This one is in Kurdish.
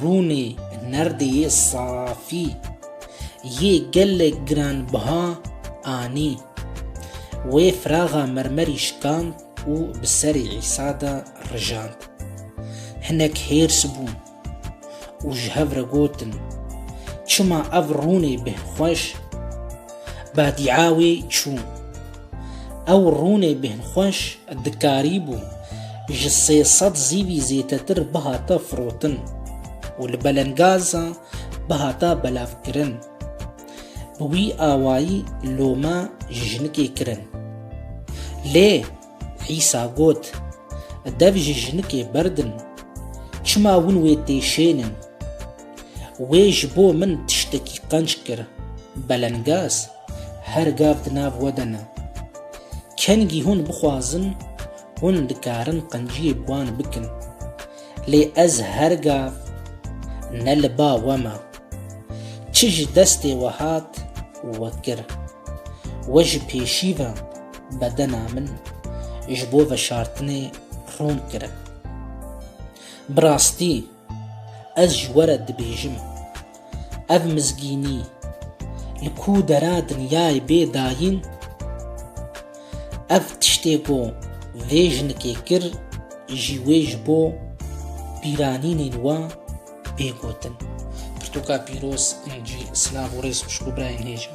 Rûnê nerdê yê safî yê gelek giranbiha anî. Wê firaxa mermerî şikand û bi serê Îsa de rijand. Hinek hêrs bûn û ji hev re gotin, Çima ev rûnê bih xweş? Badîa wê çû. Ew rûnê bêhnxweş dikarîbû ji sê sed zîvî zêtetir bihata firotin û li belengaza bihata belavkirin. Bi wî awayî lome ji jinikê kirin. Lê Îsa got, Dev ji jinikê berdin, çima win wê tê şênin? Wê ji bo min tiştekî qenc kir, belengaz. Her gav di nav we de ne. Kengî hûn bixwazin, hûn dikarin qenciyê bi wan bikin. Lê ez her gav ne li ba we me. Çi ji destê we hat, we kir. We ji pêşî ve bedena min ji bo veşartinê rûn kirin. Bi rastî. Ez ji we re dibêjim, ev mizgînî li ku dera dinyayê bê dayîn, ev tiştê ku vê jinikê kir jî wê ji bo bîranînên we bê gotin. Pirtûka pîroz, incî, silav û rêz xwişk û birayên hêj in.